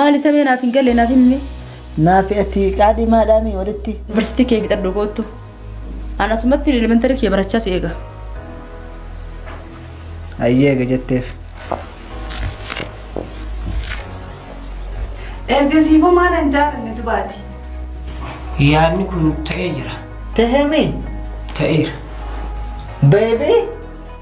Maali samee naaf hin galle naaf himmi. Naafi ati qaadhimaadhaa mii walitti. University kee fixadhu koottu. An asumatti elementary kiyya barachaa si eega. Hayyee eega jetteef. Ergasiifuu maal hin jaalanne dubaati. Yaadni kun ta'ee jira. Tahee mii? Ta'eera. Beebii?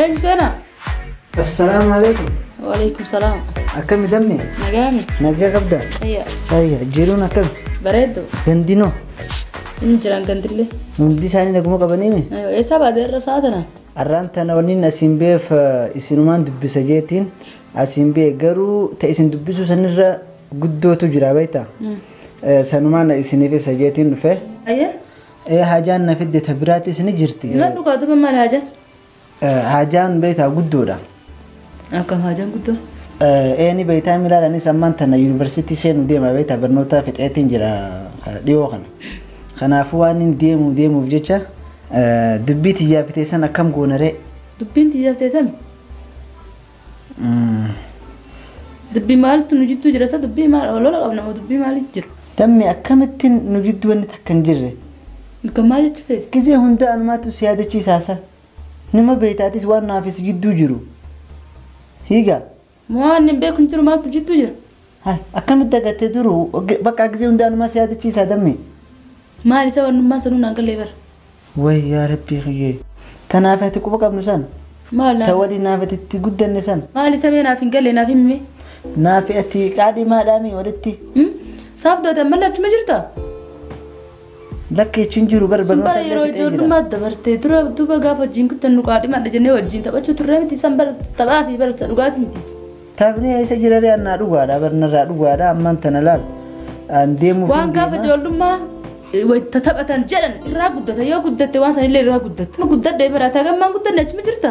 Eenyu seenaa? Assalaamu alaikum. Waalaikum salaam. Akkami dammi? Nagaami. Nagaa qabda? Ayya. Ayya, jiruun akkami? Bareeddu. Gandinoo? Inni jiraan gandillee. Hundi isaanii naguma qabaniimi? Eessaa baatee irra isaa tana? Arraan tana waliin asiin beef isinumaan dubbisa jeetiin asiin bee garuu ta isin dubbisuu sanirra guddootu jira beektaa? Sanumaan isiniif ibsa jeetiin dhufe. Ayya. Ee haajaan na fidde ta biraatis ni jirti. Nan dhugaa duba maal haajaan? Haajaan beektaa guddoodha. Akkam haajaan guddoo? Ee ni beektaa milaalaanis ammaan tana yuunivarsiitii seenuu deema beektaa barnoota fixeetiin jira dhiyoo kana. Kanaafuu waan hin deemu deemuuf jecha dubbii tiyyaa fiteessan akkam goonaree. Dubbiin tiyyaa fiteessan? Dubbi maaltu nu jidduu jira sa dubbii maal olola qabna moo dubbii maaliif jiru? Dammi akkamittiin nu jidduu wanni takka hin jirre? Ilka maal jechuu feete? Gizee hundaa anumaatu si yaadachiisaa sa? Nima beeyta atis waan naa fi si jidduu jiru. Hiiga. Moo waan hin beeku hin jiru maaltu nu jidduu jira? Hay akkamitti dagatte duruu Ge- bakka gisee hundaa numaa si yaadachiisaa dammee. Maal isa wannummaan sanuu naan galee bara. Way yaa rabbii kiyyee. Tanaaf ati quba qabnu san. Maal Ta naaf waliin naaf ati itti guddanne san. maal isa mee naaf hin galle naaf himmi. Naaf ati qaadhimaadhaami walitti. Saabdooti ammallee achuma jirta? Lakkee chin jiru bar Sun bara barnoota yeroo illee fixee jira. ijoollummaa dabartee dura duuba gaafa wajjin guddannu qaadhimaadha jennee wajjin taphachuu turre miti san bara taphaa fi bara dhugaatii miti. Taphni eessa jiraree annaa dhugaadha bar narraa dhugaadha ammaan tana laal an deemuuf Waan gaafa deema. ijoollummaa wayita taphatan jedhan irraa guddata yoo guddatte waan sanillee irraa guddatta. Amma guddadhee bara taa gammaan guddanne achuma jirta.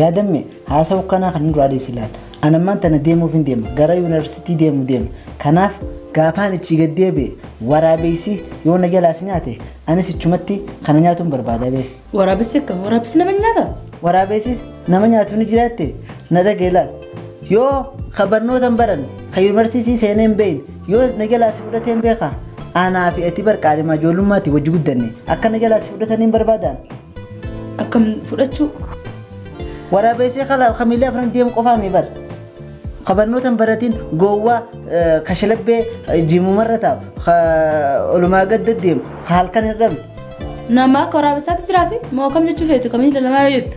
Yaadamme haasawu kanaa kan hin duraadee si laal an ammaan tana deemuuf hin deema gara yuunivarsiitii deemu deema kanaaf gaafaan ichi gad deebi'e waraabeessi yoo na jalaas nyaate anis ichumatti kana nyaatuun barbaada beeku. Waraabessi akka waraabessi nama nyaata. Waraabessis nama nyaatu ni jiraatte na dhagee laal. Yoo ka barnoota hin baranne ka yuunivarsiitii seenee hin beekne yoo na jalaa si fudhatee hin beekaa aanaa fi ati bar qaadhimaa ijoollummaatti wajji guddanne akka na jalaa si fudhatanii hin barbaadaan. Akkam fudhachuu? Waraabessi kala kamiillee afran deemu qofaa mi bar. Ka barnoota hin baratiin gowwaa eh, ka shalabbee eh, jimumarra taa'u ka olumaa gad deddeemu ka halkan hin dhabne. Nama akka waraabessaatti jiraasi moo kam jechuu feetu kamiin lalamaa yoo jettu.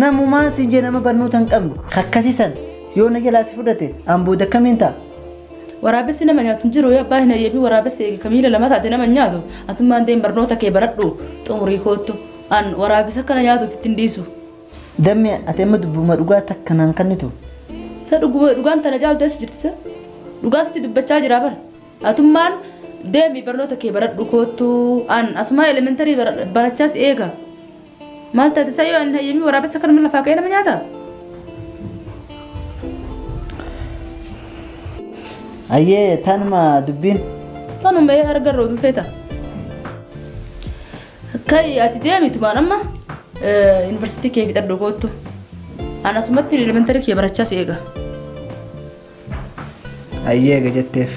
Namumaa si jee nama barnoota hin qabne ka akkasiisan yoo na jalaa si fudhate an booda akkamiin ta'a. Waraabessi nama nyaatu hin jiru yoo abbaa hin hayyeefi waraabessi eegi kamiin lalamaa taate nama hin nyaatu. Atummaan deem barnoota kee baradhu xumurii koottu. An waraabessa akkana nyaatuuf ittiin dhiisu. Gamme ati amma dubbuma dhugaa takka naan kannitu. Sa dhuguma dhugaan tana caaltu eessa jirti sa? Dhugaa sitti dubbachaa jira bar. Atummaan deemi barnoota kee baradhu koottu an asumaa elementarii barachaas eega. Maal taate sa yoo an hin hayyamii waraabessa kanuma lafaa ka'ee nama nyaata? Ayyee tanuma dubbiin. Tanuma ee argarra oduu feeta. Kai ati deemitu maan amma yuunivarsiitii kee fixadhu koottu. An asumatti elementari kee barachaa si eega. Ayyee eega jetteef.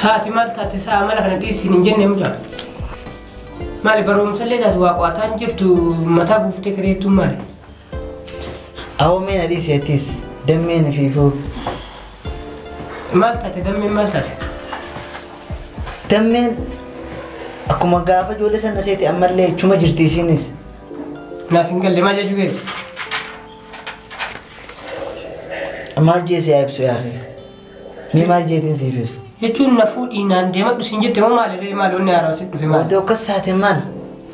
Saati maal taate saa mala kana dhiisiin hin jenne mucaa. Maali barumsa illee taatu waa qo'ataa hin jirtu mataa buuftee kireettuun maali? Awwameen adii seetis dammeen fiifuu. Maal taate dammeen maal taate? Dammeen akkuma gaafa ijoollee sana seeti ammallee chuma jirti isiinis. Naaf hin galle maal jechuu keeti? Maal jee si haa ibsu yaa akhi? Mee maal jeetiin siif ibsa? Jechuun na fuudhii naan deemadhu siin jette moo maali ree maali wanni haaraa sitti dhufe maali? Wanti akkas taate maal?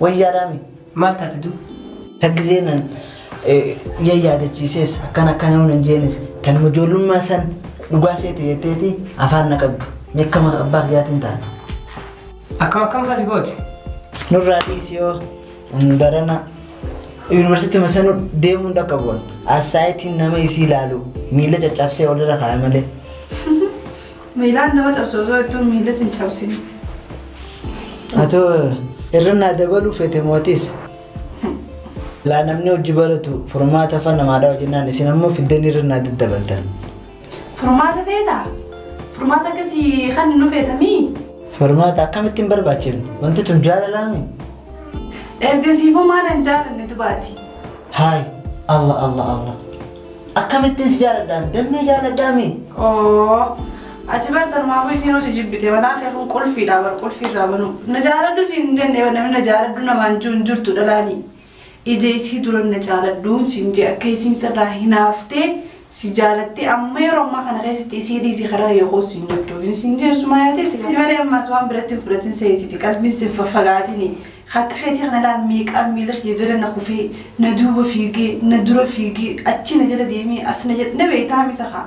Wayyaadhaa mi? Maal taate du? Taggizee nan ya yaadachiisees akkan akkan yoo nan jeenis kan ijoollummaa san dhugaa seete jetteeti afaan na qabdu. Mee akkama abbaa kiyyaatiin taate. Akkam akkam fati gooti? Nurraa dhiisi yoo Barana yuunivarsiitii masanuu deemuun akka bu'an assaayitiin nama isii ilaalu miila caccabsee walirra kaaya malee. Miilaan nama cabsu osoo jettuun miila sin cabsine. Atoo irra naa dabaluu feete mootis. Laa namni hojii baratu furmaata afaan namaadhaa hojjennaan isin ammoo fiddeen irra naa daddabaltan. Furmaata feeta? Furmaata akkasii kan nu feetamii? Furmaata akkamitti hin barbaachifne? Wanti tun jaalalaami? Ergasiifuu maal hin jaalanne dubaati? Haay, Allah Allah Allah. Akkamittiin si jaaladhaan? Dammee jaaladhaami? Oo, ati bar tarmaafuu isiinuu si jibbite mataan kee kun qulfiidha bar qulfiirraa banuu. Na jaaladhu siin hin jenne namni na jaaladhu namaan jiru hin jirtu dhalaanii. Ija isii duran na jaaladhuun siin jee akka isiin sirraa hinaaftee si jaalattee amma yeroo ammaa kana keessatti isii dhiisii karaa kiyya koos siin jabdoofin siin jee sumaayaa teeti ati malee ammaas waan biratti hin fudhatin seetiti qalbiin siin faffagaatini akka keetii kana laal meeqaan miila kiyya jala na kufee na duuba fiigee na dura fiigee achi na jala deemee as na jala na beeytaa misa kaa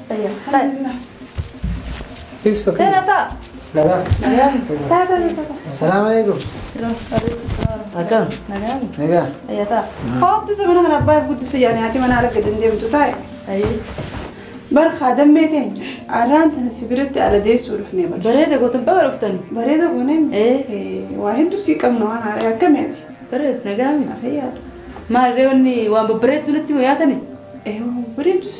Salaam alaikum. Akkam? Nagaa. Haati isa mana kana abbaa guddisa yaani haati mana ala gadi hin deemtu taa'e. Bar kaadammee ta'e arraan tana si biratti ala deessuu dhufnee bar. Bareeda gootan baga dhuftani. Bareeda gooneen Eh. waa hedduu sii qabna waan haaraa akkami ati? Bareeda nagaa mi? Fayyaadha. Maal reewwanni waan babbareedduu natti hima yaatani? Eh, bareedduu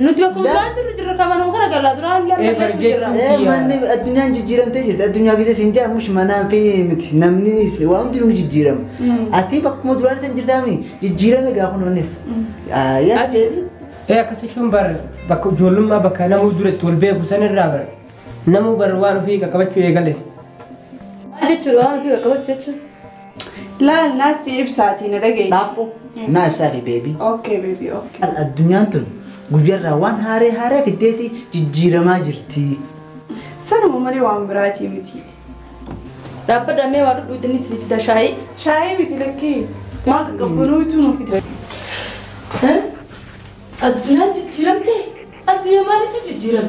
Nuti bakka duraan jirru jirra kamanuma kana gallaa duraan illee Eh, barreessu jirra. barjechuun. Eh, manni addunyaan jijjiiramtee jirti. Addunyaa keessa siin jaa mush manaan fi miti namni is- waan hundinuu ni jijjiirama. Ati bakkuma duraan isa hin jirtaami jijjiirame gaa kun onnes. Yes. Ati ee akkas jechuun bar bakka ijoollummaa bakka namuu dura itti wal beeku sanirraa bar namuu bar waan ofii qaqqabachuu eegale. Maal jechuudha waan ofii qaqqabachuu jechuudha. Laal naas si ibsaatii na dhageessi. Laaphu naa ibsaa fi beebii. Okay baby okay. Al addunyaan tun guyyarraa waan haaree haaree fiddeeti jijjiiramaa jirti. Sanuma malee waan biraatii miti. Dhaabbadha mee waa dhudhuuti ni sii fida shaayii. Shaayii miti lakkii. Waan qaqqabbanootu nu fida. Addunyaan jijjiiramtee? Addunyaa maalitu jijjiirame?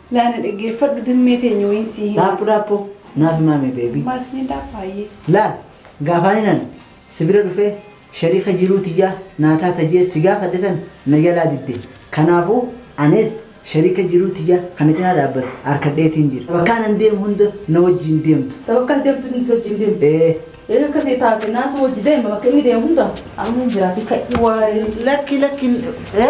Laa na dhaggeeffadhu dirmee teenya wayiin sii himati. Dhaaphuu dhaaphuu naaf himaamee baby. Maas ni dhaaphaa ayyee. Laal gaafaaniin an si bira dhufee shariika jiruu tiyyaa naa taata jee si gaafadhe san na jalaa didde kanaafuu aniis shariika jiruu tiyyaa ka na cinaa dhaabbatu arkadheetiin jira bakkaan an deemu hunda na wajjiin deemtu. Ta bakka ati deemtu hunda si wajjiin deemti? Ee. Eega akkasii taate naatu wajji deema bakka inni deemu hunda anumman jiraati ka'i. Wly lakki lakki ee.